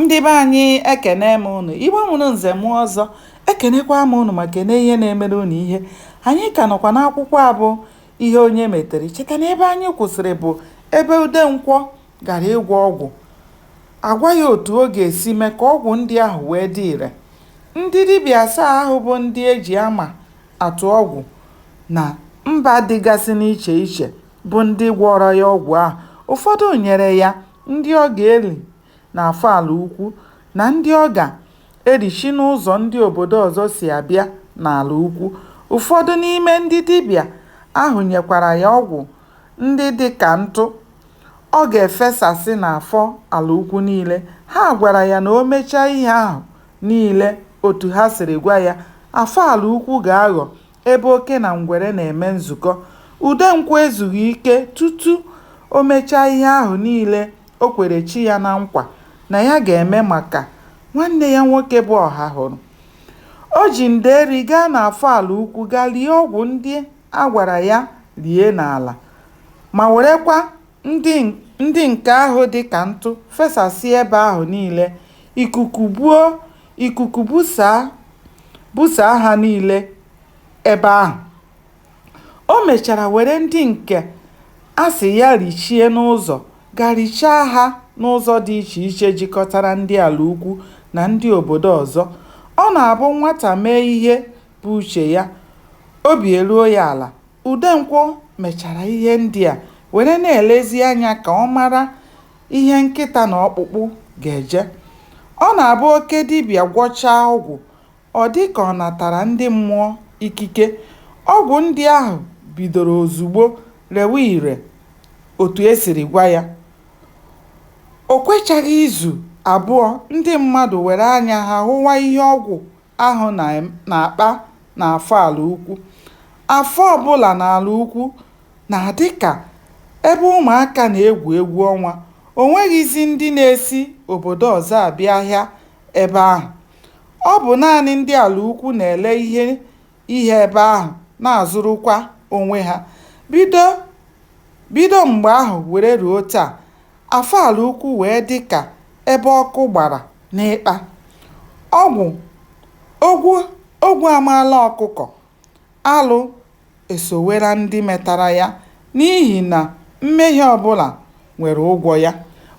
ndị be anyị ekene m ụnụ igbo mụrụ nze mụọ ọzọ ekenekwa m ụnụ ma kene ihe na-emere ụnụ ihe anyị ka nọkwa n'akwụkwọ a bụ ihe onye metere cheta na ebe anyị kwụsịrị bụ ebe udenkwọ gara ịgwọ ọgwụ a gwa ya otu ọ ga-esi mee ka ọgwụ ndị ahụ wee dị ire ndị dibịa asaa ahụ bụ ndị e ji ama atụ ọgwụ na mba dịgasị n'iche iche bụ ndị gwọrọ ya ọgwụ ahụ ụfọdụ nyere ya ndị ọ ga-eli n'Afọ Ala Ukwu na ndị ọ ga-elichi n'ụzọ ndị obodo ọzọ si abịa n'Ala Ukwu. Ụfọdụ n'ime ndị dibịa ahụ nyekwara ya ọgwụ ndị dị ka ntụ ọ ga-efesasị n'afọ Ala Ukwu niile. Ha gwara ya na o mechaa ihe ahụ niile otu ha siri gwa ya, Afọ Ala Ukwu ga-aghọ Ebe oke na ngwere na-eme nzukọ, Udenkwọ ezughị ike tutu o mechaa ihe ahụ niile o kwere chi ya na nkwa na ya ga-eme maka nwanne ya nwoke bụ Ọhahụrụ. O ji ndeeri gaa n'Afọ Ala Ukwu ga lie ọgwụ ndị a gwara ya lie n'ala ma werekwa Ndị nke ahụ dị ka ntụ fesasịa ebe ahụ niile, ikuku buo, ikuku busaa ha niile ebe ahụ. O mechara were ndị nke a sị ya richie n'ụzọ ga richaa ha n'ụzọ dị iche iche jikọtara ndị ala ukwu na ndị obodo ọzọ. Ọ na-abụ nwata mee ihe bụ uche ya, obi eruo ya ala. Udenkwọ mechara ihe ndị a were na-elezi anya ka ọ mara ihe nkịta na ọkpụkpụ ga-eje. Ọ na-abụ oke dibịa gwọchaa ọgwụ, ọ dị ka ọ natara ndị mmụọ ikike. Ọgwụ ndị ahụ bidoro ozugbo rewe ire otu e siri gwa ya. O kwechaghị izu abụọ ndị mmadụ were anya ha hụwa ihe ọgwụ ahụ na-akpa n'afọ ala ukwu. Afọ ọbụla n'ala ukwu na-adị ka ebe ụmụaka na-egwu egwu ọnwa. O nweghịzi ndị na-esi obodo ọzọ abịa ahịa ebe ahụ. Ọ bụ naanị ndị ala ukwu na-ele ihe ihe ebe ahụ, na-azụrụkwa onwe ha. Bido mgbe ahụ were ruo taa, Afọ ala ukwu wee dị ka ebe ọkụ gbara n'ịkpa. Ogwu ogwu amaala ọkụkọ, alụ esowera ndị metara ya n'ihi na mmehie ọ bụla nwere ụgwọ ya.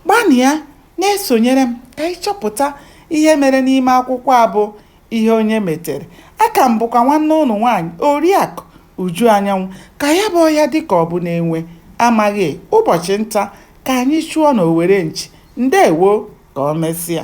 Gbanịa na-esonyere m ka anyị chọpụta ihe mere n'ime akwụkwọ a bụ Ihe Onye Metere. Aka m bụkwa nwanne ụnụ nwaanyị, Oriakụ Uju Anyanwụ, Ka ya bụ ọhịa dị ka ọ bụ na enwe amaghị, ụbọchị nta ka anyị chụọ n'owere nchi. Ndewo! Ka ọ mesịa.